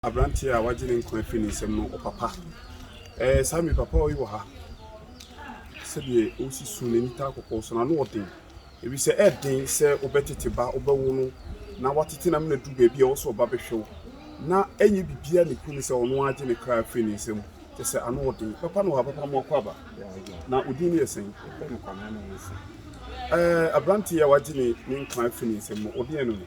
Aberanteɛ a wagye ne nkwa afiri ne nsam no, ɔpapa. Ɛɛ, saa mi papa yi wɔ ha. Sɛdeɛ ɔresi su no, n'ani taa kɔkɔɔ so, n'ano ɔden. Ɛfisɛ ɛyɛ den sɛ wobɛtete ba, wobɛwo no, na watete no ama no aduru baabi a ɛwɔ sɛ ɔba bɛhwɛ wo. Na ɛnyɛ biribiara na ɛku no sɛ ɔno ara agye ne kra afiri ne nsam. Kyerɛ sɛ, ano wɔ den. Papa no wɔ ha, papa mo akɔ aba. Na wo din no yɛ sɛn? Ɛɛ, aberanteɛ yi a wagye ne nkwa afiri ne nsam no, wo deɛn ne no?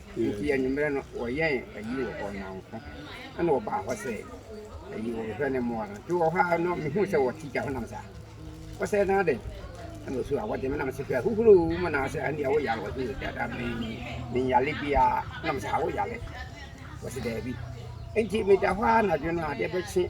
Enti anwummerɛ no wɔyɛn ayi wɔ hɔ nanko, ɛna wɔbaa hɔ sɛ ayi wɔbɛhwɛ ne mmoa no. Nti wɔ hɔ ara no mehuu sɛ wɔte gya ho nam saa. Wɔsɛ na adɛn? Ɛna ɔsu a wɔde me nam sɛ hwɛ ahuhuro mu na sɛ ɛne ɛwo yare wɔde yɛ dada bɛyi menyale biara nam sɛ awo yare. Wɔsɛ daabi. Enti meda hɔ ara anadwo no adeɛ bɛkye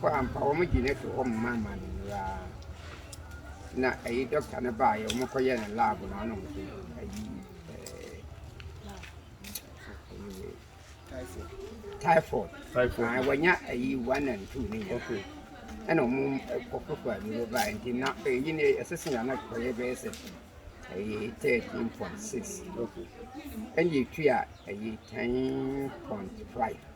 kɔ ampa wɔgye no to hɔ ma ma no nura na ɛyi dɔkta no baa yɛ wɔn kɔ yɛ no lab na ɔno nso ɛyi typhoid typhoid wɔnya ɛyi one and two ne nyinaa ɛna wɔn kɔkɔ kɔ ɛyi no baa nti na ɛyi no ɛsɛ sɛ yɛn anakɔ yɛ bɛyɛ sɛ ɛyi thirteen point six ɛna etua ɛyi ten point five.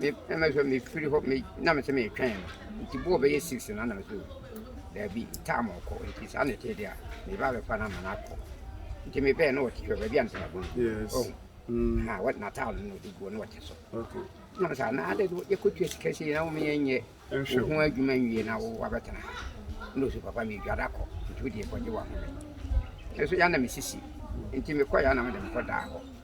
Me na me sɛ mefiri hɔ me na me sɛ metwɛn no nti bɔɔ bɛyɛ six na na me sɛ daabi taama ɔkɔ nti saa na ɛtee deɛ a meba bɛfa no ama no akɔ nti mebɛɛ na ɔte hɔ baabi a mesɛ mabɔ yes. oh. mm. ha what natal no de guo na ɔte so okay. na mesɛ na adɛ no yɛkɔtua sika sɛ na womeyɛ nyɛ wo ho adwuma nwie na wo wabɛtena ha na ɔsɛ papa medwada kɔ nti wodeɛ kɔgye wahome ɛso yɛ na mesisi nti mekɔ yɛ na mede mekɔdaa hɔ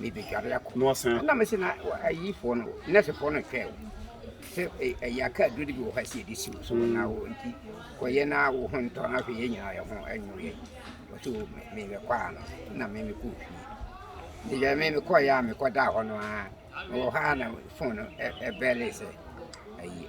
mebɛdware akɔ. Na ɔsan. Na mese na ayifoɔ no, nɛsefoɔ no hwɛ sɛ ɛyɛ aka aduro no bi wɔ hɔ a ɛsɛ yɛde si wo so mm. na wo nti kɔyɛ na wo ho ntɔ na afei yɛn nyinaa yɛ ho anwo yɛ ɔte o mebɛkɔ a no na memekɔ fie meyɛ me mekɔyɛ a mekɔdaa hɔ no a mewɔ hɔ a na fon no ɛbɛle sɛ ayi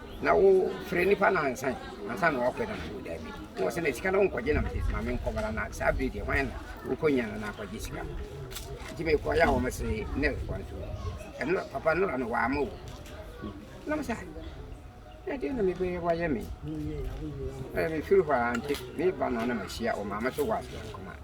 Na wo frɛ nipa nansa yi ansa na wakɔ na mede wo daabi na wɔsɛ na sika no wonkɔgye na mede ma menkɔbara na saa bere deɛ hwan na wokɔnya no na akɔgye sika no nti mekɔyɛ a wɔn se ne kɔ nso ɛno papa nnora no wɔama wo na mo sɛ ɛdeɛ na mebɛyɛ wɔayɛ me mefiri hɔ a nte meba no na mahyia ɔmaame so wɔ aseɛ nkɔma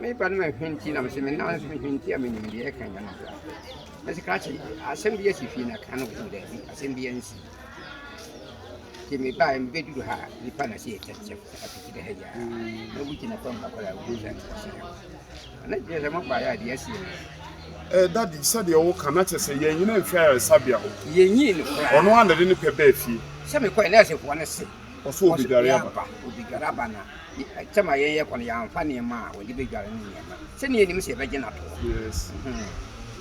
Me ba no ma hwinti na mese me nan nso hwinti a menim deɛ ɛka nyɛ no kora. Mese krakye asɛm bi asi fie na ka no wɔ daabi asɛm bi ansi. Nti mebae mebɛduru ha a nipa na sɛ yɛkyɛkyɛm apiti dɛ ha yia. Na obi gyina fam ha koraa obi sɛ nkwasi ha. Na gyina sɛ mobaeɛ a deɛ asi no. Eh, daddy, sɛdeɛ woka na kyerɛ sɛ yɛn nyina nhwɛ ayaresabea hɔ. Yɛnyii no koraa. Ɔno a na de ne pɛ baa fie. Sɛ mekɔɛ na ɛsɛ foɔ no se. Ɔsɛ obedware aba. Obedware aba na sɛm a yɛyɛ kɔ no yɛamfa nneɛma a wɔde bedware no nneɛma sɛnea yɛnim sɛ yɛbɛgye no ato hɔ. Yes.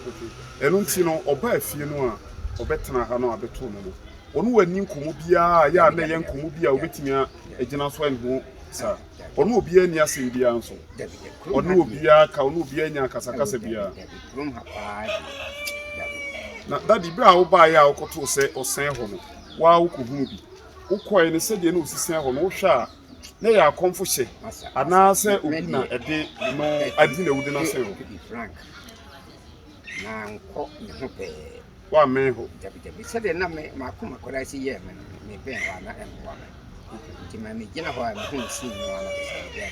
Okay. Ɛno nti no ɔbaa fie no a ɔbɛtena ha no abɛto no no ɔno wanni nkɔmmɔ biara a yɛ a na ɛyɛ nkɔmmɔ bi a wobɛtumi a agyina so ɛne ho saa ɔne obiara nni asɛm biara nso ɔne obiara ka ɔne obiara nya akasakasa biara na dade berɛ a wobaeɛ a wokɔtoo sɛ ɔsɛn hɔ no waa wokɔhunu bi wokɔe no sɛdeɛ na ɔsisian hɔ no wohwɛ a na ɛyɛ akɔmfo hyɛ anaasɛ obi na ɛde no adi na awudi no asen hɔ woammɛn hɔ sɛdeɛ na makoma kɔda si yɛ me no mebɛn hɔ a na ɛmmoa me nti ma megyina hɔ a mehu sii no a na ɛsɛ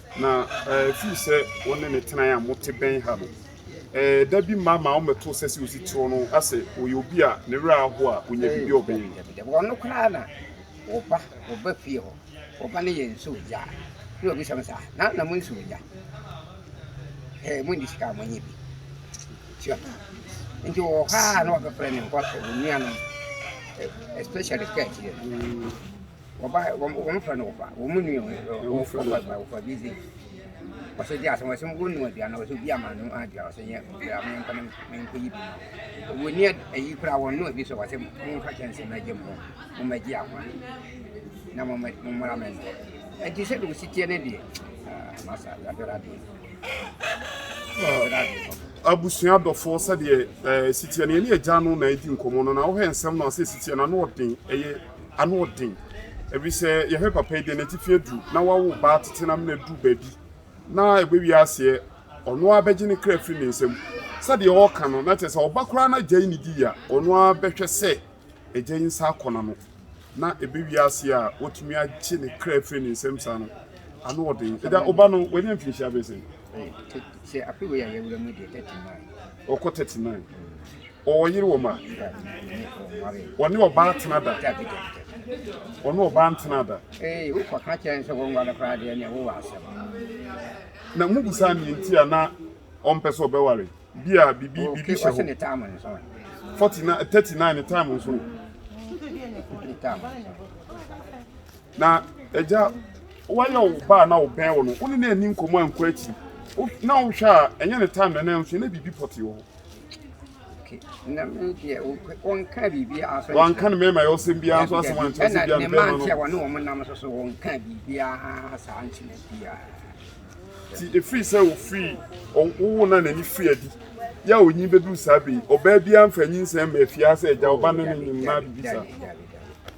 Na ɛfiri sɛ wo ne no tenae a mote bɛn ha no, da bi mma ma ɔmmɛto sɛ sɛ osi tiriw no sɛ ɔyɛ obi a ne werɛ ahow a onya biribi a ɔbɛyɛ bi. Ɔno koraa na ɔba ɔba fie hɔ, ɔba no yɛ nsu ogya a, na obisa me sɛ, ah, na na mo nsu ogya? Hɛɛ, mo nni sika a monyɛ bi. Sua pa. Nti wɔ ha a na wɔbɛfrɛ ne nkɔ sɛ onuanom, especially kɛ akyire no. Wɔba hɛ, wɔn wɔn fɛ no wɔfa, wɔn mu nua wɔn wɔn fɛ wɔfa wɔfa bi zi. Wɔsɛ di asɛm wɔsɛ wɔn nua aduane wɔsɛ obi ama no aduane wɔsɛ nyɛ wɔsɛ ama nkɔ ne ne nkɔ yi bi. Wɔn ni ayi kura wɔn nua bi sɛ wɔsɛ wɔn nfa kyɛnse na gye mu wɔn ma gye ahoa na wɔn ma wɔn mmara mɛ ntɔ. Ɛnti sɛ de wɔsi tiɛ ne deɛ aa masa yabɛrɛ adeɛ yabɛrɛ adeɛ papa. abusua dɔfoɔ sɛdeɛ ɛɛ sitiɛ no yɛne agya no na ɛdi nkɔmmɔ no na wohɛ nsɛm no a sɛ sitiɛ no ano ɔden ɛyɛ Ano ɔden, efisɛ yɛhwɛ papa yi deɛ n'atifi adu na wawo ba tete no amena duru baabi na ɛbɛwie aseɛ ɔno ara bɛgye ne kra firi ne nsam sɛdeɛ ɔreka no na kyerɛ sɛ ɔba koraa na agya yi ne di a ɔno ara bɛhwɛ sɛ agya yi nsa akɔ n'ano na ɛbɛwie aseɛ a watumi agye ne kra firi ne nsam saa no ano ɔden ɛda ɔba no w'ani amfinhyia bɛsɛ. Sɛ afe wei a yɛwura mu deɛ 30 maa Ɔkɔ thirty nine ɔwɔ yere wɔ mu a ɔne ɔbaa tena da ɔne ɔbaa ntena da. Ee wokɔ ka kyerɛ sɛ wɔn wale koraa deɛ nea wowɔ asɛm. Na mo busa nea nti a na ɔmpɛ sɛ ɔbɛware bi a bibi bibi hyɛ hɔ. ne time nso. Forty nine thirty nine ne time nso. Na agya, woayɛ wo ba a na ɔbɛn wo no, wo ne no anni nkɔmmɔ ankɔ akyiri. Wo na wohwɛ a, ɛnyɛ ne time na na nso na biribi pɔtee wɔ hɔ. Okay, na me deɛ wɔnka biribi asɔ nkyerɛ. Wɔnka no mɛma yɛ ɔsɛm biara nso asɛm ankyerɛ sɛ biara no bɛma no. Ɛna ne ma nkyerɛ wɔne wɔn nam nso so wɔnka biribiara saa nkyerɛ biara. Ti ɛfiri sɛ ɔfiri wowo na n'ani firi adi yɛ a ɔnyi bɛduru saa bɛyi ɔbaa biara mfa nyinsɛn ma afie ha sɛ agya ɔba ne ne nyim na biribi saa.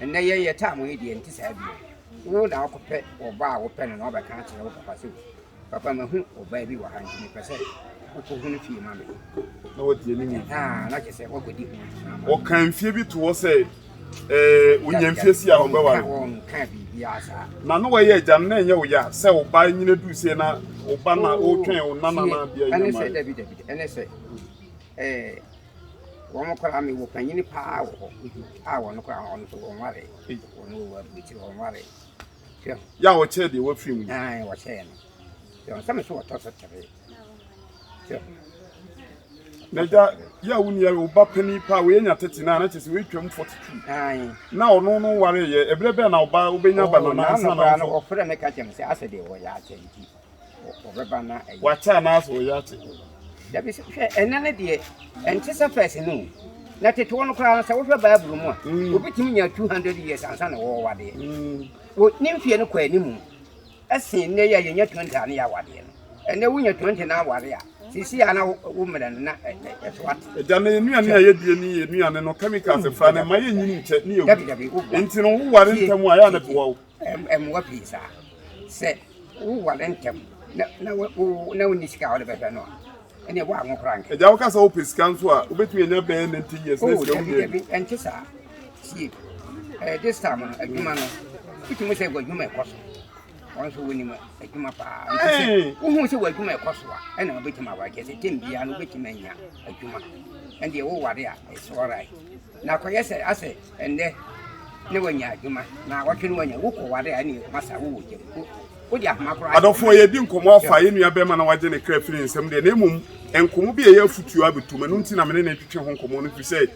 Ɛnnɛ yɛn yɛ time wei deɛ nti saa bio. Wo na akɔpɛ ɔba a wopɛ no na wabɛka akyerɛ wo papa sɛ papa mahu ɔbaa bi wɔ ha nti mepɛ sɛ wokɔhu no fie ma me. Na wɔtie ne mu. Ah, na kyɛ sɛ wɔkɔdi ho. Wɔka mfie bi to hɔ sɛ ɛɛ wonya mfie si a wɔbɛware. Wɔnka biribiara saa. Na na wɔyɛ agya no na ɛnyɛ wo ya sɛ wo ba nyina du sie na wo ba na wotwɛn wo nana na bia nyɛ ma. Ɛne sɛ dabi dabi ɛne sɛ ɛɛ wɔkora me wɔ panyini paa wɔ hɔ a wɔn kora wɔn nso wɔn ware wɔn wɔ abirikyi wɔn ware hwɛ. yà wɔ kyɛ deɛ wafiri mu. ɛn wɔ kyɛ no yɛ wɔn sɛm so wɔtɔ so tere hwɛ. na gya yà wò ni yà wò ba panyin paa wòye nya tete naa n'akyɛ sɛ wòye twam forty two. ɛn na ɔno no ware yɛ ebire bɛn na ɔba wobɛnya ba na nansa na ɔfɔ. ɔfrɛ mi ka kyɛm sɛ asɛ deɛ wɔyɛ akyɛ nti. wɔbɛba na ɛyɛ. Wate anaasɛ wɔyɛ ate? Dabi sɛ hwɛ ɛnɛ no deɛ ɛnte sɛ fɛs no o. Na tetewa no koraa sɛ wohwɛ Bible mu a mm. obi tumi nya 200 years ansa na wɔwɔ wadeɛ. Mm. Wo ne mfie no kɔ anim ɛsen nnɛ yi a yɛnya 20 a ne yɛ awadeɛ no. Ɛnɛ wonya 20 na aware a sisi a na wo mmerɛ no na ɛso ate. Ɛda na nnuane a yɛdie ne yɛ nnuane no chemicals mm. fra no ma yɛnyini nkyɛ ne yɛwu. Dabi dabi wo. Nti no woware ntɛm a yɛ a na boa wo. mmoa pii saa. Sɛ woware ntɛm na na wo na wonni sika a wode bɛhwɛ no a, ɛnna ɛwɔ ano koraa nka. Ɛgya wo kasa wopɛ sika nso a wobɛtumi anya bɛyɛ ne nti yɛ sɛ sika wonyɛ bi. Ɛnte saa sie ɛɛ this time no adwuma no wotumi sɛ w'adwuma ɛkɔ so wɔn nso wonim adwuma paa nti sɛ wohu sɛ w'adwuma ɛkɔ so a ɛnna wobɛtumi aware kyɛ sɛ tɛm biara no wobɛtumi anya adwuma ɛndeɛ woware a ɛsɛ ɔrae na akɔyɛ sɛ asɛ Ɛnnɛ na wanya adwuma, naawɔtwe na wanya. Wokɔware a, ɛnneɛ masa wowɔ gya mu. Wode ahoma koraa ahyɛ. Adɔfoɔ, yɛredi nkɔmmɔ afa yɛn nua barima na wagye ne kra firi nsam deɛ, na mmom nkɔmmɔ bi a ɛyɛ afotuo abɛtom. Ɛno nti na me ne no retwetwe ho nkɔmmɔ no, ɛfiri sɛ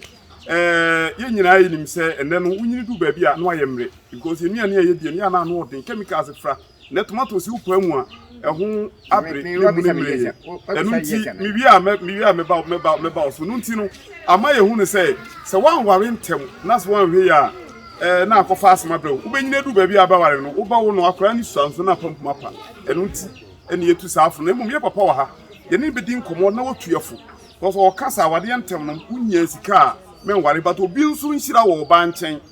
eh, yɛn nyinaa yɛnim sɛ ɛnnɛ no wonyini du baabi a, na wayɛ mmerɛ. Because nnuane a yɛdi, ɛnneɛ a na ano ɔden, chemicals fra. Na tomato si wo paa mu a, ɛho abere na emu no mmere yɛ. Ɛno nti, mewie a, mewie a mɛba mɛba mɛba wo so. No nti no, ama yɛhu no sɛ, sɛ woanware ntɛm na sɛ woanhwɛ yie a, ɛɛ na akɔfa asɛm abrɛ wo. Wobɛnyini adu baabi a bɛware no, wobɛwo no, akwadaa no sua nso na apampam apa. Ɛno nti na yɛatu saa afono. Na mmom yɛn papa wɔ ha, yɛne no bɛdi nkɔmmɔ na watu yɛfo. Because ɔka sɛ awadeɛ ntɛm no, wonnya sika a, menware. But obi nso nhyira wɔ ɔbaa nkyɛn.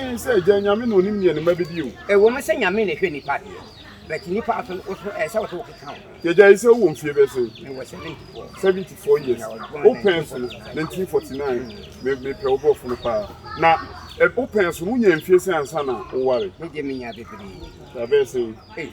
Ee, sɛ Agya Nyame na onim nea ne mma bedi o. Ɛwom sɛ Nyame na ɛhwɛ nnipa deɛ, but nnipa nso nso ɛsɛ sɛ wo keka ho. Yɛgyae sɛ wowɔ mfie bɛsɛn? Mewɔ 74. 74 years. Wo pɛn so no, 1949. Me me pɛ wo borɔfo no paa. Na ɛ wo pɛn so no, wonyaa mfie sɛn ansa na woware? Me deɛ menya bebree. Abɛyɛ sɛn? Ei.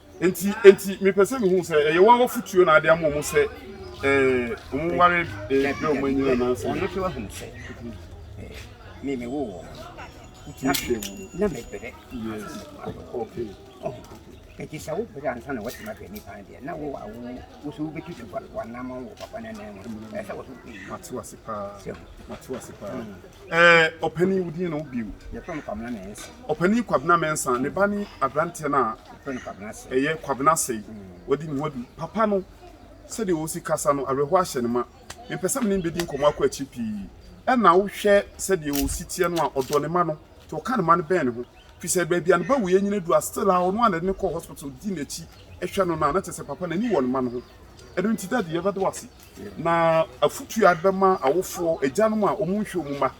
Enti, enti mepɛ sɛ mehu sɛ ɛyɛ wɔn afotuo na ade ama wɔn sɛ ɛɛ wɔn nware ɛɛ bɛ wɔn anyina anaasɛ. Wɔn nso ahu sɛ ɛɛ me me wo wɔn na na me brɛ. Yes. Okay. Oh. Eti sɛ wo brɛ ansa na wɔte ma fɛ nipa no deɛ na wo a wo wo so wobɛtu so wɔn nam wɔ papa no nan mu ɛsɛ wɔ so wopɛ yi. Mate wase paa. Sɛ. Mate wase paa. Ɛɛ, ɔpanin, wo din ne wo bio? Yɛfrɛ me Kwabena Mensah. Ɔpanin Kwabena Mensah, ne ba ne aberanteɛ no a. Yɛfrɛ no Kwabena Sey. Ɛyɛ Kwabena Sey. Wadi ne ho adu. Papa no, sɛdeɛ ɔsi kasa no, awerɛhoɔ ahyɛ no ma. Mempɛ sɛ me ne no bɛdi nkɔmmɔ akɔ akyiri pii. Ɛna wohwɛ sɛdeɛ ɔsi teɛ no a, ɔdɔ ne mma no, nti ɔka ne mma no bɛn ne ho. Firi sɛ baabi a ne ba wuiɛ nyina adu a, still ara ɔno a na ɛde no kɔ hospital di n'akyi hwɛ no no a, na kyerɛ sɛ papa no ani wɔ ne mma no ho. Ɛno nti, Daddy, yɛbɛda wo ase. Na afotu a bɛma awofoɔ, agyanom a wɔn nhwɛ wɔn mma,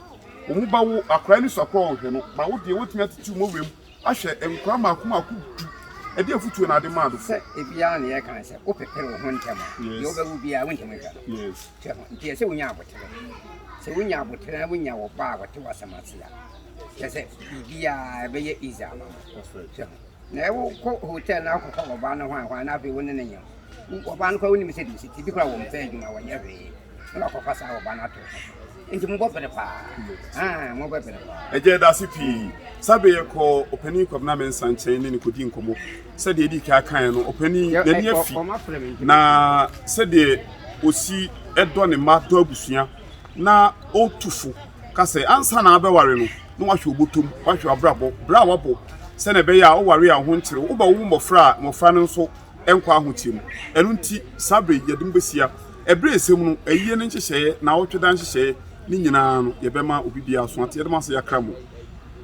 wɔn ba wo akoraa ani so akoraa a wɔhwɛ no, ma wo deɛ wɔtumi atetew mɔ wuram ahwɛ nkoraa mmaako mmaako du, ɛdeɛ afotuo na ade maa no fɔ. Sɛ ebiara na yɛka no sɛ wo pepere wo ho ntɛm a, deɛ wo bɛwo biara wo ntumi nhwɛ no, hwɛ ho, nti ɛsɛ wonya aboterɛ, sɛ wonya aboterɛ na wonya wo ba a ɔte w'asɛm ase a, kyerɛ sɛ biribiara ɛbɛyɛ easy ama mo, hwɛ ho. Na ɛwo kɔ hotel na akɔka wɔbaa no hwan hwan na afei wo ne ne nyem wɔbaa no kora wo nim sɛ deɛ siti bi kora wɔn pɛ adwuma wɔnyɛ hwee na wakɔfa saa wɔbaa no ato nti mo bɔ bere paa aa mo bɔ bere paa. Ɛgya ɛdaase pii sabe yɛ kɔ ɔpanin kwabena me nsa nkyɛn ne ne kɔdi nkɔmɔ sɛdeɛ ɛdi kaa kan no ɔpanin n'ani afi na sɛdeɛ osi ɛdɔ ne mma dɔ abusua. na otu fo ka sɛ ansa na abɛware no, na wahwɛ wo bɔtɔ mu, wahwɛ w'abrabɔ, bra a wabɔ sɛnea ɛbɛyɛ a woware a wo ho nkyere wo, wobɛwo mmɔfra a mmɔfra no nso nkɔ ahoteɛ mu. Ɛno nti, saa berɛ yi, yɛde mo bɛhyia. Ɛberɛ a ɛsɛ mu no, ayie no nhyehyɛeɛ, nnawɔtwe da nhyehyɛeɛ, ne nyinaa no, yɛbɛma obi biara so ate. Yɛda mo ase, yɛakra mo.